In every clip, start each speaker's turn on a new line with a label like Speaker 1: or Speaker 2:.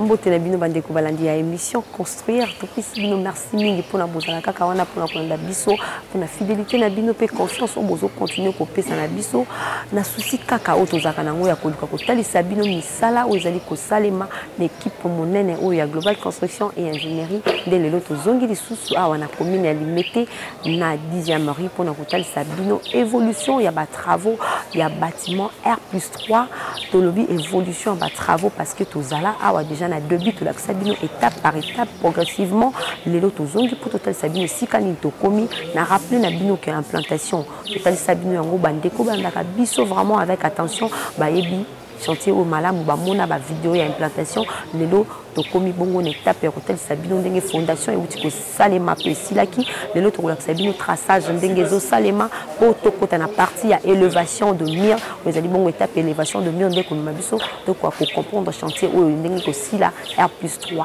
Speaker 1: mbote na bino bandeko balandi ya émission construire topesi bino merci mingi mpona bozala kaka wana mpona kolanda biso mpona fidélité na bino mpe confiance oyo bozocontinue kopesa na biso na souci kaka oyo tozalaka na yango ya koluka kotalisa bino mosala oyo ezali kosalema na ekipe monene oyo ya global construction et ingénierie nde lelo tozongi lisusu awa na commune ya limete na 10e rue mpo na kotalisa bino évolution ya batravaux ya bâtiment r plus 3 tolobi évolution ya batravaux parce que tozala awa déjà na debut tolakisa bino étape par étape progressivement lelo tozongi mpo totalisa bino esika nini tokomi na rappele na bino ke implantation totalisa bino yango bandeko bandaka biso vraiment avec attention bayebi chantier oyo malamu bamona bavideo ya implantation lelo tokomi bongo na etape ya kotalisa bino ndenge fondation euti kosalema to esilaki lelo tokolakisa bino traçage ndenge ezosalema mpo tokota na partie ya elevation de mur oyo ezali bongo etape elevation de mur nde komema biso tokoka kocomprendre chantier oyo ndenge kosila r plus 3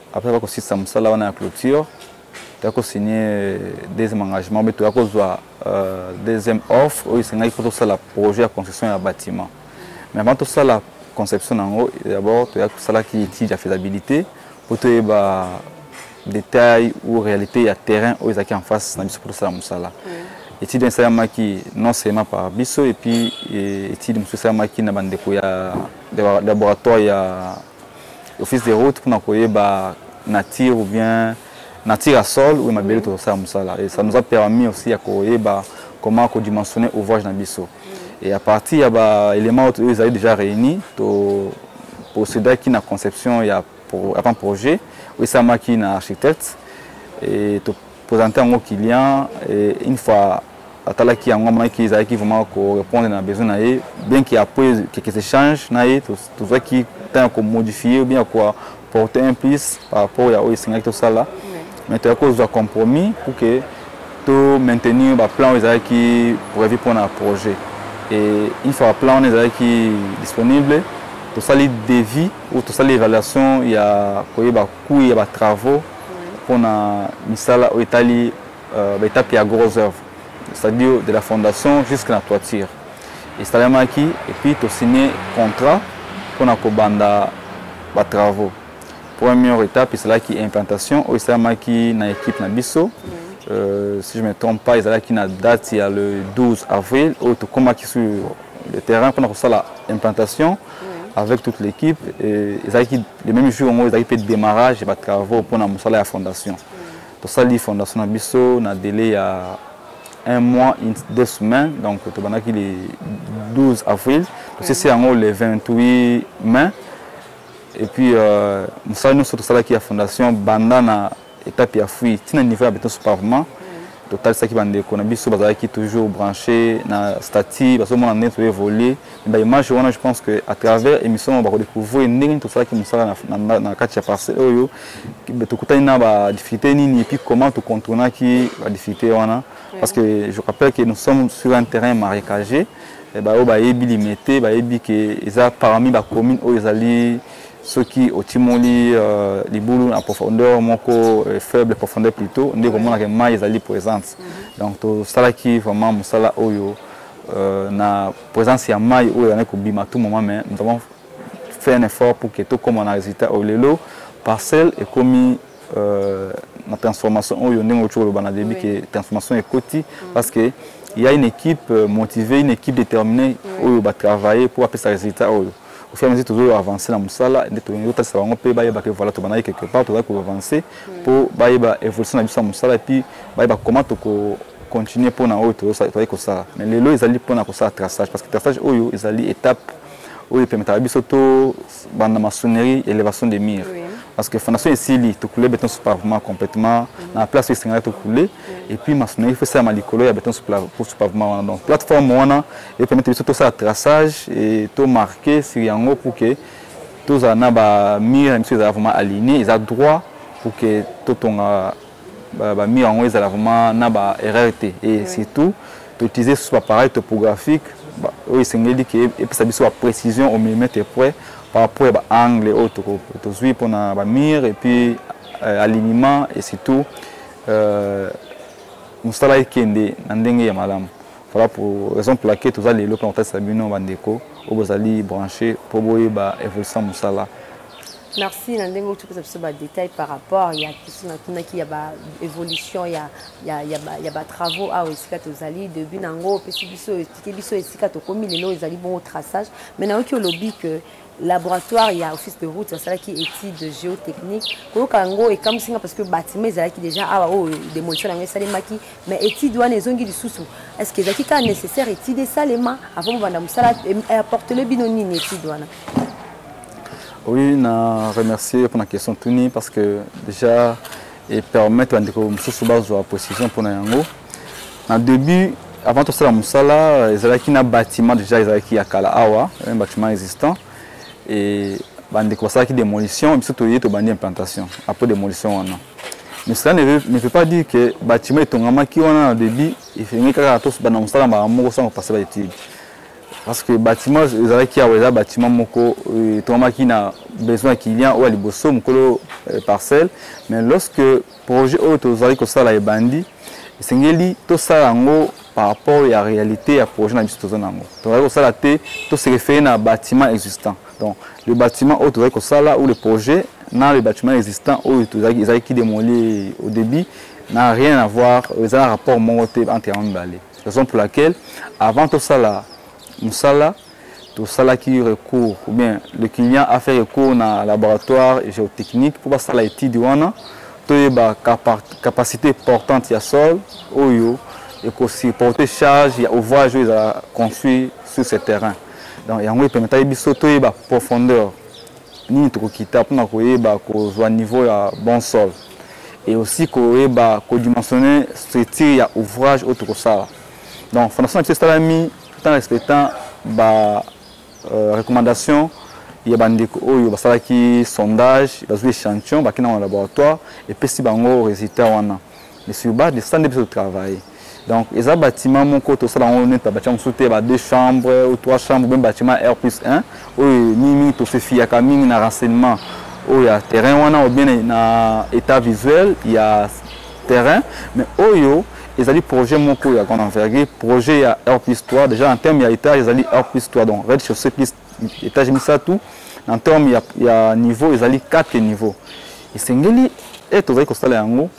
Speaker 2: Après bakosisa mosala wana ya clôture toya kosigne deuxième engagement mpe toya kozwa euh, deuxième offre oyo esengaki mpo tosala projet ya construction ya bâtiment mais avant tosala conception na yango d'abord toya tosalaki étude ya faisabilité mpo toyeba détail ou réalité ya terrain oyo ezalaki en face na biso mpo tosala mosala étude esalamaki non seulement par biso epuis étude mosusu esalamaki na bandeko ya laboratoire ya office de route pona koyeba nature ou bien nature ya sol ou mabele mm. tozosala mosala et ça nous a permis aussi ya koyeba comment kodimensionner ouvrage na biso mm. et à partir ya baélément oyo ezali déjà réuni to procédaki na conception ya avant projet oyo esalamaki na architecte et to présenter yango client et une fois atalaki yango amonaki ezalaki vraiment korépondre na besoin na ye bien que après quelques échanges na ye tozwaki temps ya komodifie bien ya porter un plus par rapport ya oyo esengaki tosala mais toyaki kozwa compromis pour que to maintenir baplan oyo ezalaki prévu mpona projet et une fois baplan wana ezalaki disponible tosali devis ou tosali évaluation ya koyeba coût ya batravaux mpo na misala oyo etali euh, baetape ya gros œuvre c'est-à-dire de la fondation jusque na toiture esalemaki epuis tosigne contrat mpo na kobanda batravaux première étape ezalaki implantation oyo esalemaki na équipe na biso euh, si je me trompe pas ezalaki na date ya le 12 avril oyo tokomaki sur le terrain mpona kosala implantation avec toute l'équipe ezalaki le même jour yango ezalaki mpe démarrage ya batravaux mpo na mosala ya fondation tosali fondation na biso na délai ya un mois une, deux semaines donc tobandaki le 12 avril tosisi yango le 28 mai et puis euh, mosala nyonso tosalaki ya fondation banda na etape ya fui ti na niveau ya beton soupavement totalisaki bandeko na biso bazalaki toujours branché na statut bazomona ndenge toévolue ba image wana je pense que à travers émission oyo bakodécouvrir ndenge nini tosalaki mosala na kati ya parcelle oyo tokutani na badifficulté nini epuis comment tocontournaki badifficulté wana parce que je rappelle que nous sommes sur un terrain marécagé eh, baoyo bayebi limete bayebi ke eza parmi bacommune oyo ezali soki otimoli euh, libulu na profondeur moko euh, faible profondeur plutôt nde komona ke mai ezali présence mhm. donc tosalaki vraiment mosala oyo euh, na présence ya mai oyo ezalaki kobima tout moment mais nous avons fait un effort pour que tokoma na résultat oyo lelo parcelle ekomi euh, na transformation oyo ndenge okoki koloba na début ke transformation ekoti mhm. parce que il y a une équipe euh, motivée, une équipe déterminée, oui. oyo ba travailler pour appeler sa résultat oyo. au fur et à mesure tozo avancer na musala nde tolingi kotalisa bango mpe bayeba ke voilà tobandaki quelque part tozali koavancer mpo hmm. bayeba évolution na biso ya mosala epuis bayeba comment toko continuer mpo na oyo tozali kosala mais lelo ezali mpo na kosala traçage parce que traçage oyo ezali étape oyo epemetaka biso tobanda maçonnerie élévation de mire oui. parce que fondation esili tokule beton sous pavement complètement hmm. na place oyo esengeli tokule hmm. et puis maçonnerie fo esalama likolo ya beton sous pavement wana donc plateforme wana e permettre biso tosala traçage e to marquer sur yango pour que tozala na ba mur na biso ezala vraiment aligné eza droit pour que totonga ba mur yango ezala vraiment na ba erreur te et surtout toutiliser susu baappareil topographique oyo esengeli ke epesa biso ba précision au millimètre près par rapport ya baangle oyo tozwi mpona bamire et puis euh, alignement et surtout euh, mosala ekende na ndenge ya malamu Voilà pour raison pour laquelle toza lelo mpe nakotalisa bino bandeko oyo bozali branche mpo boyeba évolution ya mosala merci
Speaker 1: na ndenge otopesa biso badetail par rapport ya question natunaki ya baévolution ya, ya, ya, ya batravaux awa esika tozali debut na yango opesi biso etike biso esika tokomi lelo ezali bongo traçage mais nayoki olobi que laboratoire ya office de route basalaki étude géotechnique koyoka yango ekamwisi nga parce que bâtiment ezalaki déjà awa oyo oh, démolition na yango esalemaki mais étude wana ezongi lisusu est ce que ezalaki kaka nécessaire étude esalema avant bobanda mosala apportele bino nini étude wana
Speaker 2: oui na remercier mpona question tuni parce que déjà epermettre bandeko mosusu bazwa précision mpona yango Na début avant tosala mosala ezalaki na bâtiment déjà ezalaki ya kala awa, un bâtiment existant et bandeko basalaki démolition biso toye tobandi implantation après démolition wana. Mais cela ne veut, ne veut pas dire que bâtiment etongamaki wana na début efengi kaka tosbanda mosala mbala moko sans kopasa ba études. parce que bâtiment ezalaki awa eza bâtiment moko euh, etongamaki na besoin ya client oyo ya liboso mokolo euh, parcelle mais lorsque Projet oyo tozali kosala ebandi esengeli tosala yango par rapport ya réalité ya projet na biso toza nango tozali kosala te tose référé na bâtiment existant donc le bâtiment oyo tozali kosala ou le projet na le bâtiment existant oyo tozalaki ezalaki demoli au début n'a rien à voir eza na rapport moko te entre yango mibale raison pour laquelle avant tosala mosala tosalaki recours ou bien le client a fait recours na laboratoire géotechnique mpo basala étude wana toyeba capacité portante ya sol oyo ekosupporte charge ya ouvrage oyo ezala construit sur ce terrain donc yango epermetaki biso toyeba profondeur nini tokokita mpona koyeba kozwa niveau ya bon sol et aussi koyeba kodimensionne structure ya ouvrage oyo tokosala donc fondation na biso esalami tout en respectant ba euh, recommandations ya bandeko oyo basalaki sondage bazwi échantillon bakenda na laboratoire epesi bango résultat wana mais sur base de ça nde biso totravaille donc eza bâtiment moko tosala yango neti babatia mosusu te ba deux chambres ou trois chambres meme bâtiment r plus 1 oyo mingimingi tofefiyaka mingi na renseignement oyo ya terrain wana obien na état visuel ya terrain mais oyo ezali projet moko ya grande envergure projet ya r plus 3 déjà en terme ya étage ezali r plus 3 donc red chaussée plus étage misato en terme ya, ya niveau ezali 4 niveau esengeli e tozali kosala yango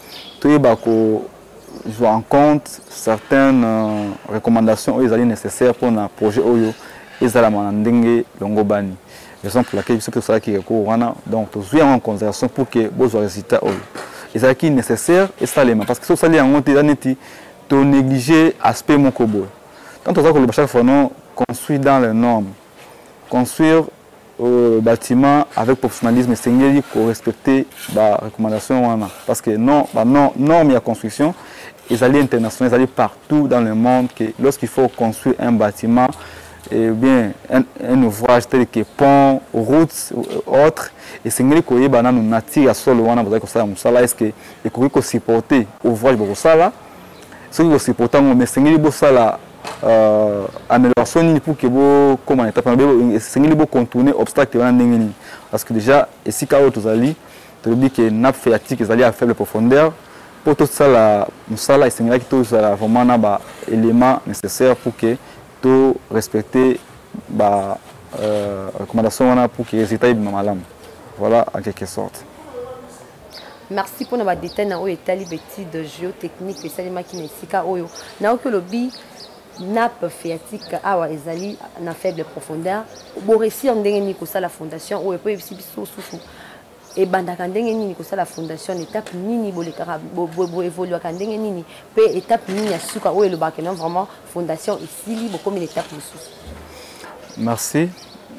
Speaker 2: toyeba kozwa en compte certaines euh, recommandations oyo ezali nécessaire mpona projet oyo ezalama na ndenge longobani raison pour laquelle biso mpe tosalaki recours wana donc tozwi yango en considération pour que bozwa résultat oyo ezalaki nécessaire esalema parce que soki osali yango te eza neti tonéglige aspect moko boye tant toza koloba chaque fois non construit dans les normes construire euh, bâtiment avec professionnalisme esengeli korespecte barecommandation wana parce que non banorme ya construction ezali international ezali partout dans le monde que lorsqu'il faut construire un bâtiment eh bien un, un ouvrage tel que pont route autre esengeli koyeba nanu nature ya solo wana bozali kosala mosala est ce que ekoki kosupporte ouvrage bokosala soki kosupporte yango mais esengeli bosala euh, amélioration nini pour que bokoma na étape esengeli bocontourne obstacle wana ndenge nini parce que déjà esika oyo tozali tolobi ke nappe phréatique ezali ya faible profondeur mpo tosala mosala esengelaki tozala vraiment na baélément nécessaire pour que To respecter ba euh, recommandation wana pour que résultat ebima malamu. Voilà en quelque sorte.
Speaker 1: merci mpona badetail na oyo etali betide geotechnique esalemaki na esika oyo nayoki olobi nappe phéatique awa ezali na faible profondeur boresir ndenge nini kosala fondation oyo mpo oyebisi biso susu ebandaka ndenge nini kosala fondation na étape nini bolekaka boevoluaka ndenge nini mpe étape nini ya suka oyo elobaka non vraiment fondation esili bokomi na étape mosusu merci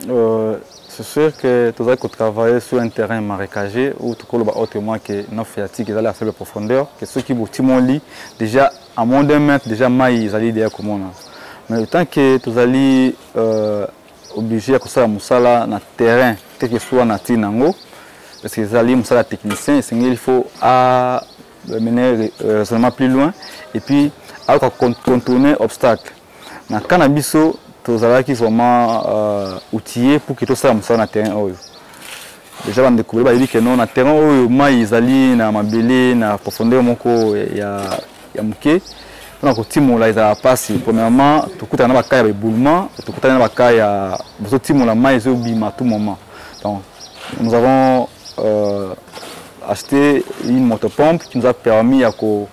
Speaker 2: euh, c'est sûr que tozali kotravaille sur un terrain marécagé ou tokoloba autrement que non phréatique ezali asele profondeur que soki botimoli déjà à moins d'un mètre déjà mai ezali deya komona mais le temps que tozali euh, oblige ya kosala mosala na terrain quelque soit na ntina yango parce que ezali mosala ya technicien esengeli faut a mener euh, raisonnement plus loin et puis ayoka contourner obstacle na cas na biso tozalaki vraiment euh, outillé pour que tosala mosala na terrain oyo Deja ba ndeko ba yebi que non na terrain oyo mai ezali na mabele na profondeur moko ya ya muke pona ko timola ezala pasi. Premièrement, to kutana na ba cas ya éboulement, to kutana na ba cas ya bozo timola mai ezo bima tout moment. Donc nous avons euh, acheté une motopompe qui nous a permis ya ko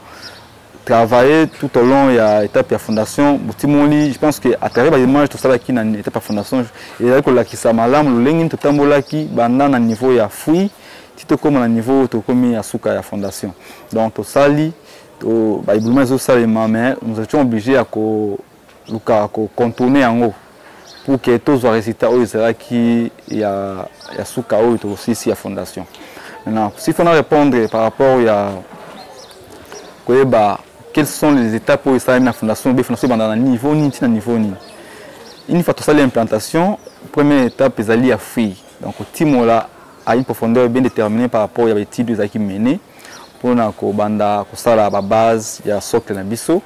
Speaker 2: travailler tout au long ya étape ya fondation botimoli je pense que à travers ba images tosalaki na étape ya fondation ezali kolakisa malamu lolenge nini totambolaki banda na niveau ya fruit ti tokóma na niveau oyo tokomi ya suka ya fondation donc tosali baebulema ezosalema mais nous étions obligé ya ko luka ko contourner yango pour que tozwa résultat oyo ezalaki ya, ya suka oyo tokosilisi ya fondation maintenant s'il faut na répondre par rapport ya koyeba quelles sont les étapes oyo esalami na fondation obe fondation ebanda na niveau nini ntina niveau nini une fois tosali implantation première étape ezali ya fruit donc timola à une profondeur bien déterminée par rapport ya baétude ezalaki mene mpona kobanda kosala babase ya socle na biso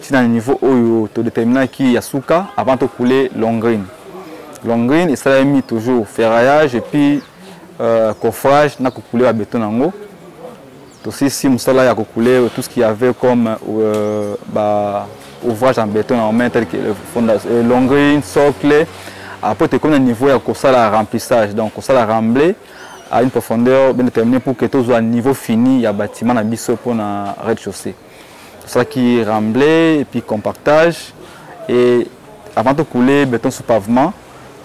Speaker 2: ti na niveau oyo to determinaki ya suka avant to couler longrine longrine esalemi toujours ferraillage et puis euh, coffrage na kokule ba beton yango tosisi mosala ya kokule tout ce qu'il y avait comme euh, ba ouvrage en béton na main tel que le fondation euh, longrine socle après tokomi na niveau ya kosala remplissage donc kosala remblai à une profondeur bien déterminée pour que tozwa niveau fini ya bâtiment na biso mpona rez-de-chaussée tosalaki remblai epuis compactage e avant tokoule beton sous pavement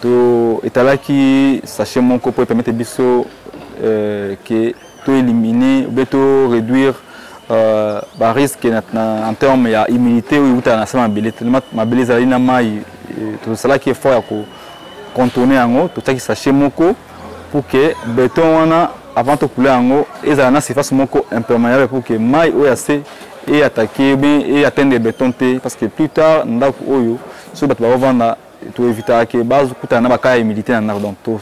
Speaker 2: to etalaki sachet moko mpo epermete biso euh, ke to éliminer obe to réduire euh, barisque en terme ya humilité oyo eutaka na se mabele tellement mabele ezalaki na mai tosalaki effort ya ko contourner yango totiaki sachet moko pour que beton wana avant tokula yango ezala na surface moko imperméable pour que mai oyo ya se eatake bien eatteindre beton te parce que plus tard ndako oyo soki bato bakovanda toevitaka ke bakutana na bakaa ya humidité na ndako donc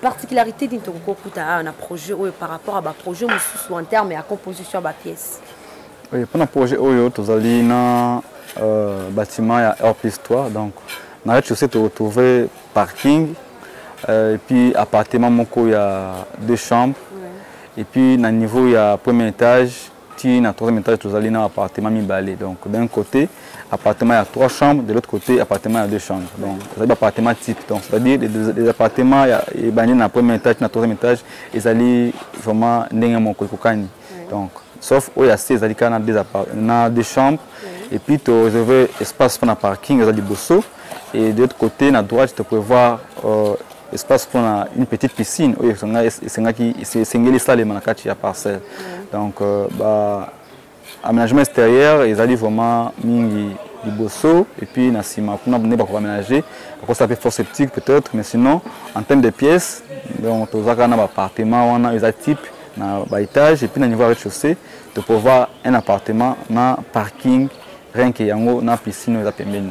Speaker 2: particularité
Speaker 1: nini tokoki kokuta awa na projet oyo par rapport ya baprojet mosusu en terme ya composition ya bapièce oui, mpo na
Speaker 2: projet oyo tozali na euh, bâtiment ya rpis 3 donc na rez chaussée toretrouve parking euh, et puis appartement moko ya deux chambres ouais. et puis na niveau ya premier étage ti na troisième étage tozali na appartement mibale donc d'un côté appartement ya trois chambres de l'autre côté appartement ya deux chambres donc ezali baappartement type donc c'est-à-dire les appartement ebandi na premier étage na troisième étage ezali vraiment ndenge moko ekokani donc sauf oyo ya se ezali kaka na deux chambres et puis to réserve espace mpona parking eza liboso et de l'autre côté na droite to prévoir euh, espace pour une petite piscine oyo esengaki esengeli esalema na kati ya parcelle donc euh, ba aménagement extérieur ezali vraiment mingi liboso et puis na nsima kuna nde bakoka aménager bakosa mpe force septique peut-être mais sinon en terme de pièces donc tozaka na baappartement wana eza type na baétage et puis na niveau ya rez-de-chaussée topouvoir un appartement na parking rien que yango na piscine oyo eza pembeni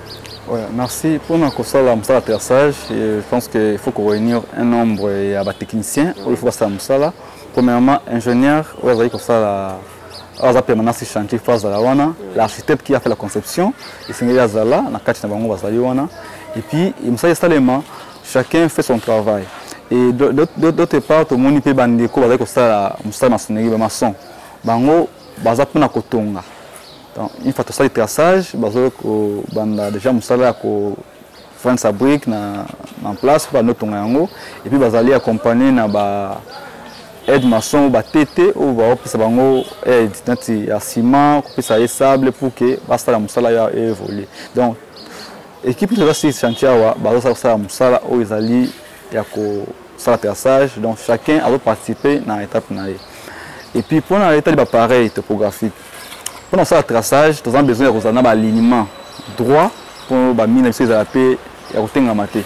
Speaker 1: Ouais,
Speaker 2: merci. Pour nous, Kosala Moussa atterrissage, je pense qu'il faut qu'on réunir un nombre de techniciens. Il faut Kosala Moussa. Premièrement, ingénieur, il faut Kosala aza permanence si chantier fo azala wana l'architecte qui a fait la conception esengeli azala na kati na bango bazali wana et puis mosala esalema chacun fait son travail et d'autre part tomoni mpe bandeko bazali kosala mosala masoneli bamason bango baza mpona kotonga Donc, une fois tosali traçage, bazo ko banda déjà musala ya ko vendre sa brique na en place ba notonga yango et puis bazali accompagner na ba aide maçon ba tete ou ba opesa bango aide nati ya ciment, kopesa ye sable pour que basala musala ya évoluer. Donc équipe de la chantier awa bazo sala sala musala oyo ezali ya ko sala traçage donc chacun azo participer na étape na ye. Et puis pour na état de l'appareil topographique Pour nous faire traçage, nous avons besoin de un alignement droit pour ba mine biso ezala pe ya kotenga mate.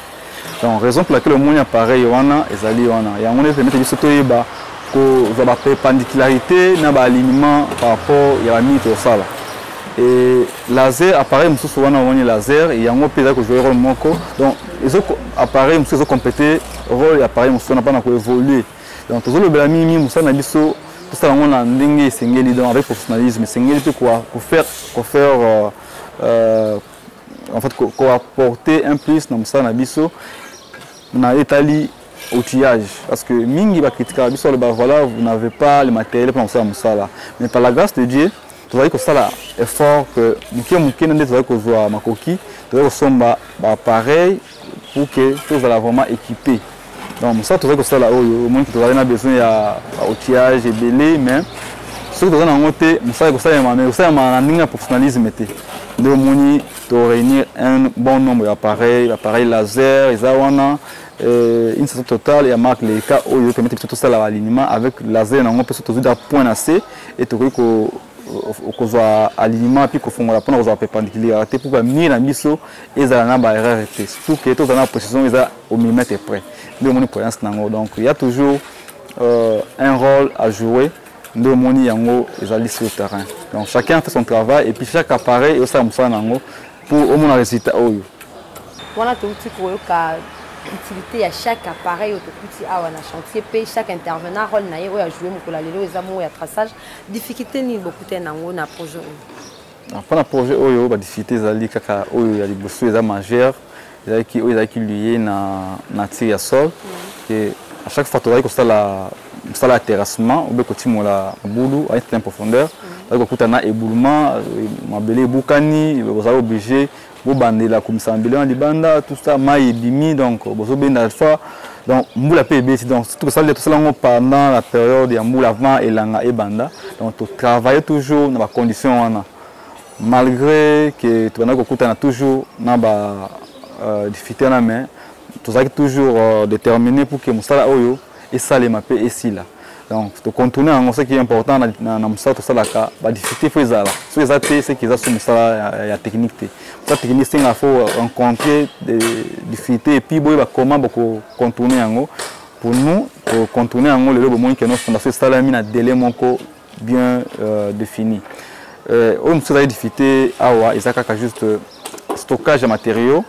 Speaker 2: Donc raison pour laquelle omoni appareil wana ezali wana. Yango ne permettre biso toyeba ko za ba perpendicularité na ba alignement par rapport ya ba mine to sala. Et laser appareil mususu wana omoni laser yango pe ezali ko jouer rôle moko. Donc ezo appareil mususu ezo compléter rôle ya appareil mususu wana pona ko évoluer. Donc tozolobela mingi mingi mosala na biso tosala yango na ndenge esengeli donc avec professionnalisme esengeli mpe kofaire kofaire euh, euh, en fait koapporter un plus na mosala na biso na etali outillage parce que mingi bakritikaka biso aloba voilà vous n'avez pas le matériel mpona kosala mosala mais par la grâce de dieu tozali kosala effort que moke moke na nde tozali kozwa makoki tozali kosomba bapareil pour que tozala vraiment équipé donc mosala tozali kosala oyo omoni ke tozali na besoin ya outillage ebele mais soki toza na yango te mosala ekosalema mais ekosalema na ndenge ya professionnalisme te nde omoni toréunir un bon nombre ya appareil bapareil laser eza wana euh, une station totale ya marque leika oyo permettre biso tosala balinima avec laser na yango mpe so tozwi da point na se e tokoki kozwa alignement mpe kofongola mpona kozwa perpendiculaire te mpo bamire na biso ezala na baerreur te surtout ke tozala na précision eza au millimètre près nde omoni prudence na yango donc ya toujours euh, un rôle à jouer nde omoni yango ezali sur terrain donc chacun fait son travail et puis chaque appareil eosala mosala na yango mpo omona résultat oyo wana
Speaker 1: touti koyoka utilité ya chaque appareil oyo tokuti awa na chantier mpe chaque intervenant rôle na ye oyo ajoue mokolo ya lelo eza moko ya traçage difficulté nini bokutani nango na projet oyo ah, mpo
Speaker 2: na projet oyo badifficulté ezali kaka oyo ya liboso eza majeur ezalaki oyo ezalaki liye na nature ya sol mm. e à chaque fois tozalaki kosala mosala ya terrassement obe kotimola mabulu à certain profondeur mm. ozali kokuta na eboulement mabele ebukani ozali oblige bobandela komisama bilona libanda tout ça mai ebimi donc bozobenda soit donc mbula mpe ebeti donc tosali tosala yango pendant la période ya mbula avant elanga ebanda donc totravaille toujours na bacondition wana malgré ke tobandaki kokutana toujours na ba euh, difficulté wana mais tozalaki toujours euh, déterminé pour ke mosala oyo esalema mpe esila donc tocontourne yango soki important na, na, na mosala tosalaka badifficulté fo ezala soki eza te seki eza so mosala ya, ya technique te mosala technique senga fo rencontrer difficulté epuis boyeba comment bokocontourne yango pour nous tocontourne yango lelo bomoni ke no fondation esalami na délai moko bien euh, défini euh, oyo mosusu ezali difficulté awa eza kaka juste euh, stockage ya matériaux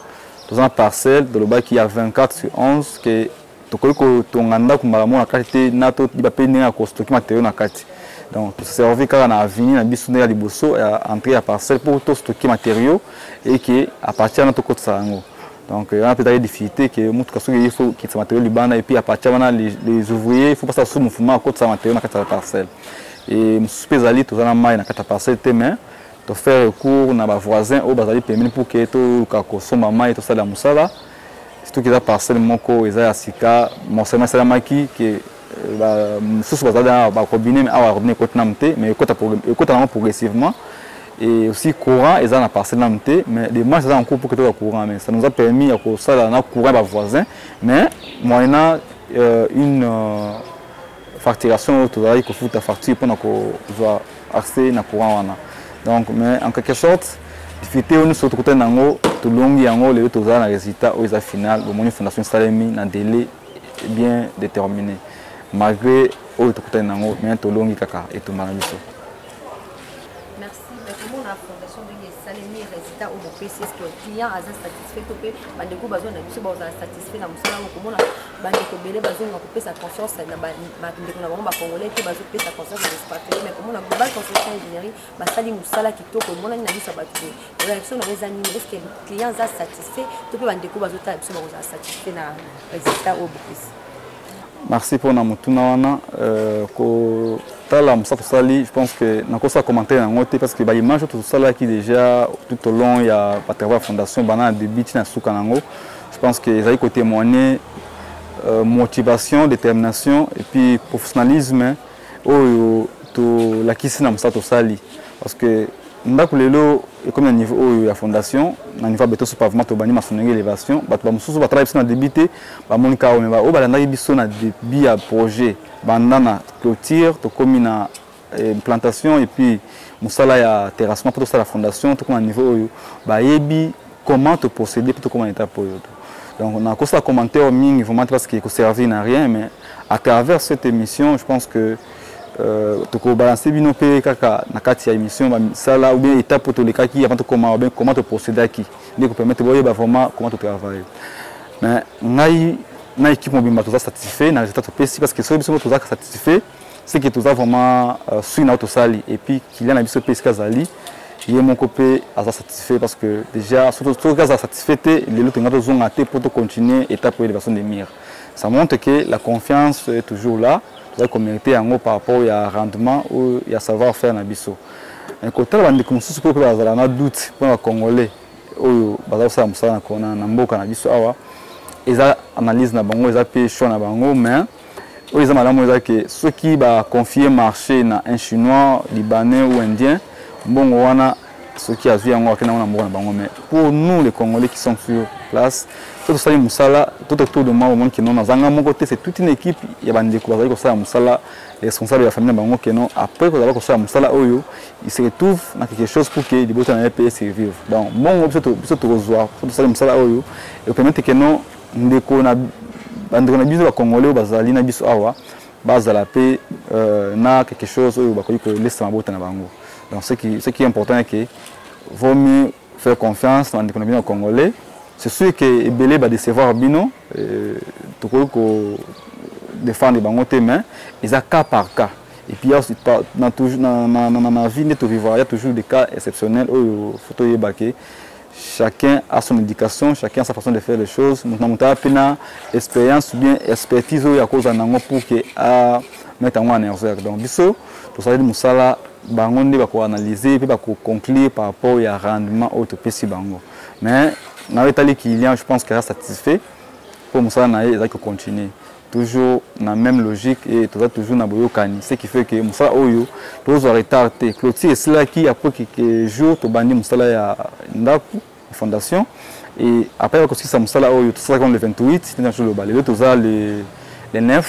Speaker 2: toza na parcelle tolobaki ya 24 sur 11 ke tokoki kotonga ndako mbala moko na kati te na toyeba mpe ndenge ya kostoki materio na kati donc toservi kaka na aveni na biso nde ya liboso ya entrée ya parcelle mpo tostoki materio eke apartir wana tokotisa yango donc wana euh, mpe ezalaki difficulté ke motuka soki eye fo kitisa materio libanda epuis apartir wana les ouvriers fo basala susu mouvement akotisa materio na kati ya parcelle e mosusu mpe ezali toza na mai na kati ya parcelle te mais tofaire recours na bavoisin oyo bazali pembeni mpo ke toluka kosomba mai tosalela mosala surtout que eza parcelle moko eza ya sika morcellement esalamaki ke euh, mosusu bazali na barobine mais awa robine ekoti nanu te mais ekota nango progressivement et aussi courant eza na parcelle nanu te mais demarche eza na cours mpo ketoka courant mais ça nous a permis ya kosala na courant ya bavoisin mais moyena euh, une euh, facturation oyo tozalaki kofuta facture mpona kozwa accès na courant wana donc mais en quelque sorte difficulté oyo nyonso tokutani na yango tolongi yango lelo tozala na résultat oyo eza final bomoni fondation esalemi na délai bien déterminé malgré oyo tokutani na yango mais tolongi kaka etumba na biso
Speaker 1: merci mais komona fondation ndenge esalemi résultat oyo bopesi eske client aza satisfait to mpe bandeko bazwa na biso bazala satisfait na mosala oyo komona bandeko ebele bazonga kopesa confiance na bandeko na bango bacongolais te bazopesa confiance na espatreli mais komona global construction ingénierie basali mosala kitoko emonani na biso ya bato boye réaction na yango eza nini eske client aza satisfait to mpe bandeko bazotala biso bakozala satisfait na résultat oyo bopesi Merci
Speaker 2: pour na mutuna wana euh, kotala mosa tosali je pense que nakosala commentaire yango te parce que ba image tout ça qui déjà tout au long ya batravers fondation bana na début ti na suka nango je pense que ezali kotémoigner euh, motivation détermination et puis professionnalisme oyo tolakisi na mosala tosali parce que ndako lelo ekomi na niveau oyo ya fondation na niveau ya beton so pavement tobandi masolo ndenge elevation bato bamosusu batalaki biso na debut te bamoni kaka me oyo balandaki biso na debut ya projet banda na clôture tokómi na eh, plantation et puis mosala ya terrassement mpo tosala fondation tokóma na niveau oyo bayebi comment to procéder pour tokoma na étape oyo to donc nakosala commentaire mingi vraiment parce que ekoservir na rien mais à travers cette émission je pense que euh, tokobalanse bino mpe kaka na kati ya émission bamisala ou bien étape oyo tolekaki avant tokoma ou bien comment toprocédaki nde kopermettre boyeba vraiment comment totravaille mais ngai na équipe mobimba toza satisfait na résultat topesi parce que soki biso moko tozalaka satisfait c'est que toza vraiment euh, sui na tosali et puis kilian na biso mpe esika azali ye moko mpe aza satisfait parce que déjà soki aza satisfait te lelo tolinga tozonga te mpo tocontinue étape oyo leversion de mire ça montre que la confiance est toujours là tozali komérite yango par rapport ya rendement oyo ya savoir faire na biso kotala bandeko mosusu mpe bazala na doute mpo na bacongolais oyo baza kosala mosala na mboka na biso awa eza analyse na bango eza mpe choix na bango mais oyo eza malamu eza ke soki baconfie marché na un chinois libanais ou indien mbongo wana soki azwi yango akenda yango na mboka na bango mais pour nous les congolais qui sommes sur place to tosali mosala to totour de moi omoni keno nazanga moko te c'est toute une équipe ya bandeko bazali kosala mosala responsable ya famille na bango keno après kozala kosala mosala oyo il se retrouve na quelque chose pour que libota na ye mpe survivre donc mbongo biso tokozwa po tosali mosala oyo ekopermettre keno ndeko na bandeko na biso bakongole oyo bazali na biso awa bazala mpe euh, na quelque chose oyo bakoki kolesa mabota na bango donc ce qui, ce qui est important eke vaut mieux faire confiance na bandeko na bino ya congolais c'est sûr ke ebele badecevoir bino euh, tokoki kodefendre bango te mais eza cas par cas et puis na, na, na, na, na vie nde tovivra ya toujours des cas exceptionnels oyo fo toyeba ke chacun a son éducation chacun a sa façon de faire les choses moto na moto aya mpe na expérience ou bien expertise oyo akozala na yango pour que a mete yango en erreur donc biso tosaleli mosala bango nde bakoanalyse mpe bakoconclure par rapport ya rendement oyo topesi bango mais nayo etali client je pense que aza satisfait mpo mosala na ye ezalaki kocontinue toujours na même logique et toza toujours na boyokani ce qui fait que mosala oyo tozwa retard te clôture esilaki après quelques jours tobandi mosala ya ndako fondation et après bakosilisa mosala oyo tosalaki le 28 nde nazoloba lelo toza le 9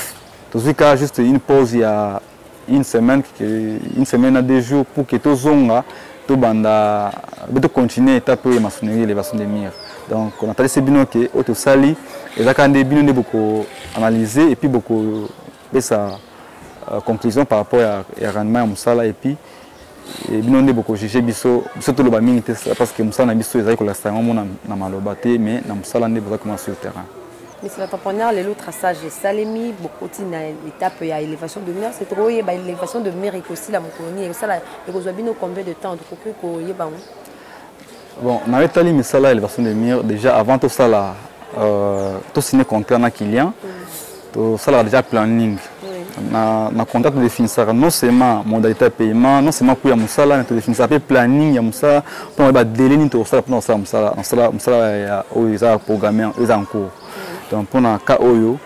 Speaker 2: tozwi kaka juste une pause ya une semaine une semaine na deux jours pour que tozonga tobanda be tocontinue etape oyo ya masonerie elevation de mire donc natalisi bino ke oyo tosali ezalaka nde bino nde bokoanalyse epuis bokopesa euh, conclusion par rapport ya, ya rendement ya mosala epuis Eh, bino nde bokojuge biso biso toloba mingi te parce que mosala na biso ezali kolakisa yango mona na maloba te mais na mosala nde boza koma sur terrain Monsieur
Speaker 1: l'entrepreneur, les autres sages salemi, beaucoup na l'étape il y a élévation de mur, c'est trop il y a élévation de mur et aussi la mokoni et ça la et combien de temps donc que il y a
Speaker 2: Bon, na etali misala ya elevation de mur déjà avant tosala euh, tosigne contrat na client mm. tosalaka déjà planning na, na contrat todefinisaka non seulement modalité ya paiement non seulement coût ya mosala mais todefinisaka mpe planning ya mosala mpo na badele nini tokosala mpo na kosala mosala mosala mosala oyo eza programme eza en cours donc mpo na cas oyo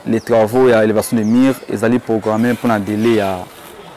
Speaker 2: les travaux ya élévation de mire ezali programme mpo na délai ya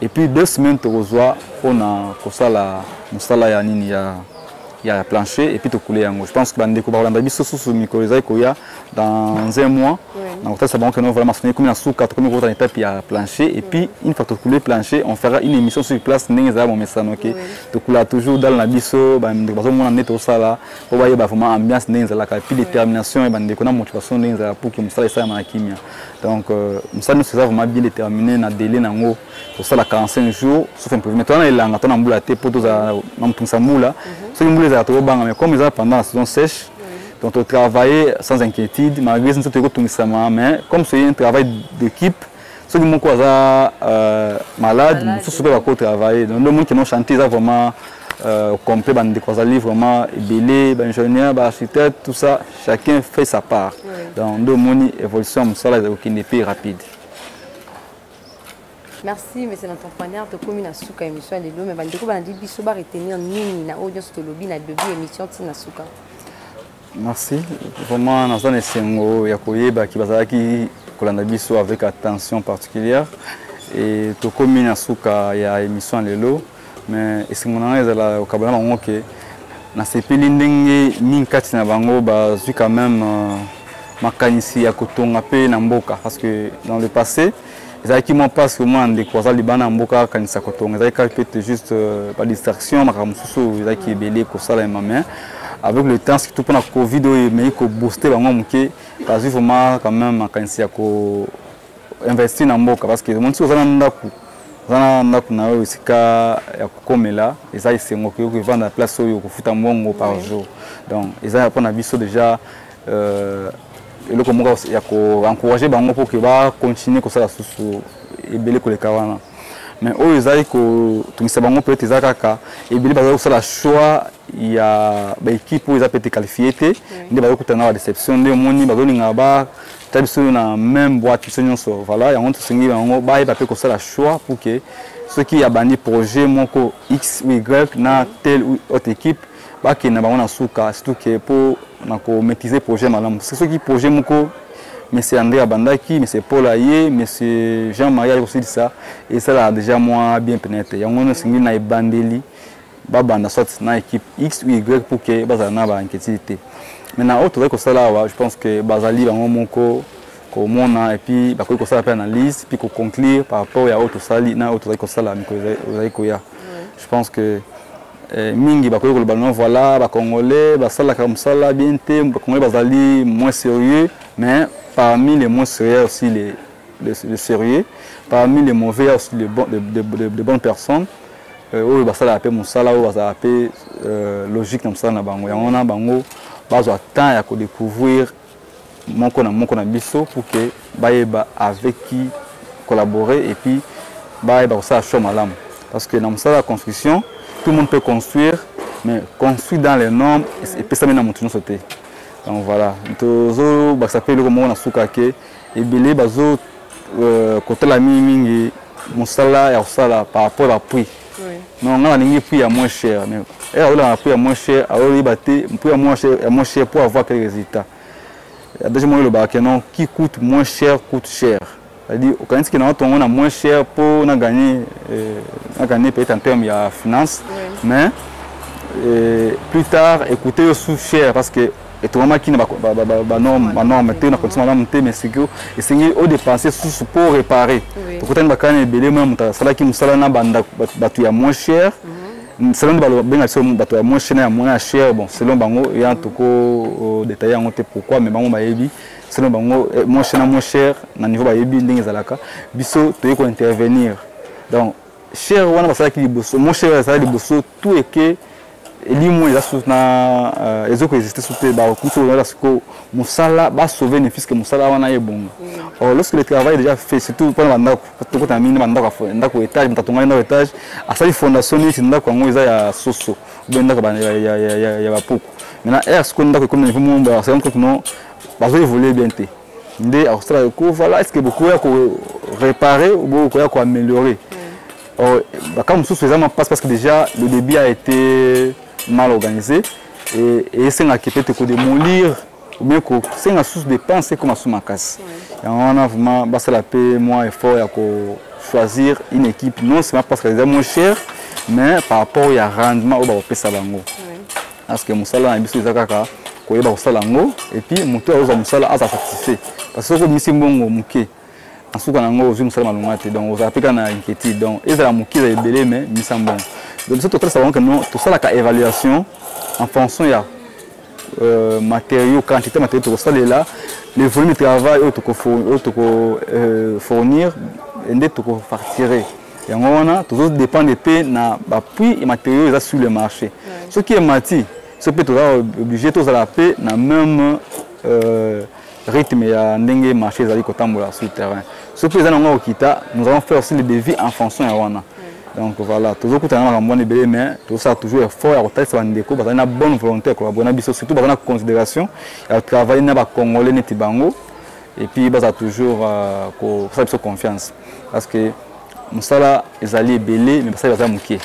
Speaker 2: Et puis deux semaines tokozwa pona kosala musala ya nini ya ya plancher et puis tokule yango. Je pense que bandeko bakolanda biso susu mikolo ezali koya dans un mois. Na kotalisa bango que non vraiment sonye komi na suka tokomi kokota na étape ya plancher et puis une fois tokule plancher on fera une émission sur place ndenge ezali momesano ke tokula toujours dal na biso bandeko bazomona nde tosala po bayeba vraiment ambiance ndenge ezalaka et puis détermination ya bandeko na motivation ndenge ezalaka pour que mosala esalama na kimia. donc mosala nyonso eza vraiment bien déterminé na délai nango tosala 45 jours sauf imprévu mais toza na elanga to na mbula te mpo tozala na motungisa mbula mhm. soki mbula ezala tokobanga mais comme eza pendant la saison sèche donc on travaillait sans inquiétude, malgré ce que nous mais comme c'est un travail d'équipe, ceux qui m'ont euh, malade, ceux qui ont travaillé, donc le monde qui ont chanté, ça vraiment euh, complet, des vraiment belé, ingénieur, architecte, tout ça. chacun fait sa part donc nde omoni évolution ya mosala ezali kokende mpe rapide
Speaker 1: merci monsieur l'entrepreneur tokomi na suka ya émission ya lelo me bandeko balandi biso baretenir nini na oyo nyonso tolobi na debut émission ntina suka
Speaker 2: merci vraiment naza na esengo ya koyeba ki bazalaki kolanda biso avec attention particulière e tokomi na suka ya émission ya lelo mais esengo na ngai ezala kokabana bango ke nasepeli ndenge mingi kati na bango bazwi quand même euh, makanisi ya kotonga mpe na mboka parce que dans le passé ezalaki mwa mpasi omona ndeko aza libanda ya mboka akanisa kotonga ezalaki kaka peut juste euh, badistraction makambo mosusu oyo ezalaki ebele kosalema mais avec le temps surtout mpona covid oyo emei kobooste bango moke bazwi vraiment quand même makanisi ya ko investir na mboka parce que omonisi oza na ndako oza na ndako na yo esika ya kokomela eza esengo okoki kovanda place oyo okofuta mbongo par jour donc eza mpona biso déjà euh, eloko moko ya koencourage bango mpo ke bacontinue kosala susu ebele koleka wana mais oyo ezali kotungisa bango peut-être eza kaka ebele bazali kosala choix ya ba équipe oyo eza peut être qualifier te nde bayo kutana ba déception nde omoni bazo linga ba ta biso na même boîte biso nyonso voilà yango tosengi yango bayeba mpe kosala choix pour que soki abandi projet moko x ou y na telle ou autre équipe bakende na bango na suka surtout ke mpo na komaîtrise projet malamu parce que soki projet moko monsieur andré abandaki monsieur paul aye monsieur jean marie aye kosilisa esalaka déjà mwa bien pene te yango wana osengi na ebandeli babanda soit na équipe x ou y pour que bazala na bainquiétude te maintenant oyo tozali kosala awa je pense que bazali bango moko komona epuis bakoki kosala mpe analyse puis koconclure par rapport ya oyo tosali na oyo tozali kosala mikolo ezali koya je pense que eh, mingi bakoki koloba no voilà bacongolais basalaka mosala bien te bacongolais bazali moins sérieux mais parmi les moins sérieux aussi les, les, les sérieux parmi les mauvais aussi les, bon, les, les, les, les bonnes personnes euh, oyo basalaka mpe mosala oyo bazalaka mpe euh, logique na mosala na bango yango wana bango bazwa temps ya kodécouvrir moko na moko na biso pour que bayeba avec qui collaborer et puis bayeba kosala choix malamu parce que na mosala ya construction tout le monde peut construire mais construit dans les normes epesami na moto nyonso te donc voilà tozobakisa mpe eloko moko na suka ke ebele bazo euh, kotala mingi mingi mosala ya kosala par rapport à prix non ngai nalingi prix ya moins cher mais ere aolaka na prix ya moins cher aoyeba te prix ya moins cher ya moins cher pour avoir quel résultat déjà moi elobaka ke non qui coûte moins cher coûte cher c'est-à-dire okanisi ke na watongo na moins cher mpo na gagner euh, na gagner peut-être en terme ya finance mais euh, plus tard écouter yo sous cher parce que etongamaki na banorme te na kondisi malamu te mais sikoyo esengeli odepense susu mpo réparer tokutani bakani ebele mona moto asalaki mosala na bato ya moins cher mm, selon nde babenga biso bato ya moins cher na ya moins ya cher bon selon bango ya toko euh, detaille yango te pourquoi mais bango bayebi selon bango eh, moins cher na moins cher na niveau bayebi ndenge ezalaka biso toyei kointervenir donc cher wana basalaki liboso moins cher ezalaki liboso tout est que elimo eza sous na euh, ezo ko exister sous te ba kuso na la siko musala ba sauver ne fils que musala wana ye bonga mm. or lorsque le travail déjà fait surtout pour la ndako to ko tamini ba ndako fo ndako etage mtatonga ndako etage asali fondation ni ndako yango eza ya soso be ndako ba ya ya ya ya ba poko maintenant er siko ndako comme niveau mumba c'est encore que non ba zo évoluer bien te nde akosala ko voilà est-ce que beaucoup ya ko réparer ou beaucoup ya ko améliorer mm. Oh, bakan mosusu eza ma passe parce que déjà le débit a été mal organisé et esengaki peut-être kodemolir ou bien kosenga susu dépense ekoma su makasi yango wana vraiment basala mpe mwa effort ya kochoisir une équipe non seulement parce que eza moins cher mais par rapport ya rendement oyo bakopesa bango parce que mosala na biso eza kaka koyeba kosala yango epuis moto oyo azwa mosala aza satisfait parce que soki obimisi mbongo moke na suka na yango ozwi mosala malonga te donc ozalaka mpe kaka na inquiétude donc ezala moke ezala ebele mais misambo yango donc biso totalisa bango keno tosalaka évaluation en fonction ya euh, matériaux quantité matériaux tokosalela le volume de travail oyo tokofournir euh, nde tokofacture yango wana tozodépendre mpe na bapuis ya matériaux eza sur le marché soki emati so mpe toza obligé tozala mpe na même euh, rythme ya ndenge marché ezali kotambola sur terrain soki mpe eza nango okita nous allons faire aussi le devis en fonction ya wana donc voilà tozokutana na makambo wana ebele mais tozosala toujours effort ya kotalisa bandeko bazali na bonne volonté ya kolabore na biso surtout bazali na considération ya kotravaille na bacongolais neti bango et puis bazala toujours euh, kosala biso confiance parce que mosala ezali ebele me basali baza moke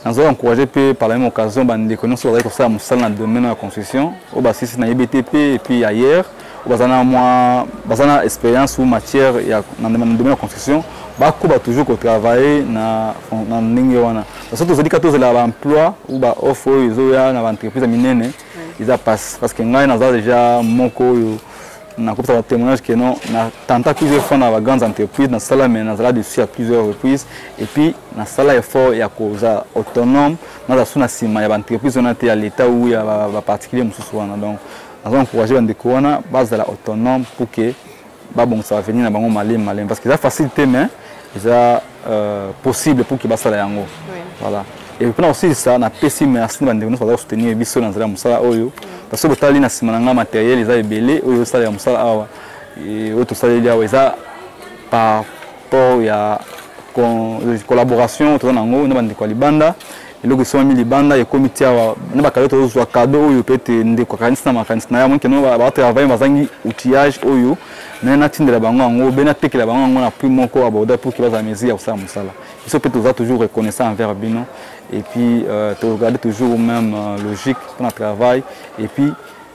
Speaker 2: nazali encourage mpe par la même occasion bandeko nyonso bazali kosala mosala na domaine ya construction oyo basilisi na ebtp epuis ailleurs oyo baza na mwa baza na expérience ou matière ya na domaine ya construction bakoba toujours kotravaille na, na ndenge wana parce que tozali kaka tozela baemploi ou baoffre oyo ezoya na baentreprise ya minene eza passe parce que ngai naza deja moko oyo nakopesa ba témoignage que non na tenta plusieurs fois na ba grandes entreprises nasala mais nazala dessus à plusieurs reprises et puis nasala effort ya kozala autonome nazala su na nsima ya baentreprise wana te ya l'état ou ya baparticulier mosusu wana donc naza encourage bandeko wana bazala autonome pour que babongisa avenir na bango malemi malemi parce que eza facile te mais eza euh, possible pour que basala yango voilà et mpona kosilisa napesi merci na bandeko nyonso baza kosoutenir biso na nzela ya mosala oyo parce que botali na nsima na ngai matériel eza ebele oyo osalela mosala awa oyo tosaleli awa eza par rapport ya collaboration toza na yango na bandeko ya libanda eloko esomami libanda ekomi ti awa na bakado tozozwa kado oyo pete ndeko akanisi na makanisi na ye amoni keno batravaille bazangi outillage oyo me natindela bango yango be natekela bango yango na prix moko aborda pour ke bazala mesure ya kosala mosala biso mpe toza toujours reconnaissant envers bino et puis euh, toregarde toujours même euh, logique mpona travail et puis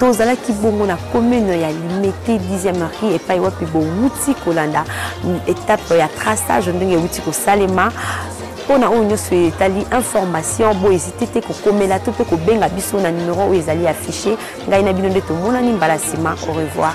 Speaker 1: tozalaki bongo na commune ya limete 10e marie epai wapi bowuti kolanda etape ya traçage ndenge ewuti kosalema mpo na oyo nyonso etali information bohésite te kokomela to mpe kobenga biso na numero oyo ezali affiche ngai na bino nde tomonani mbala nsima au revoir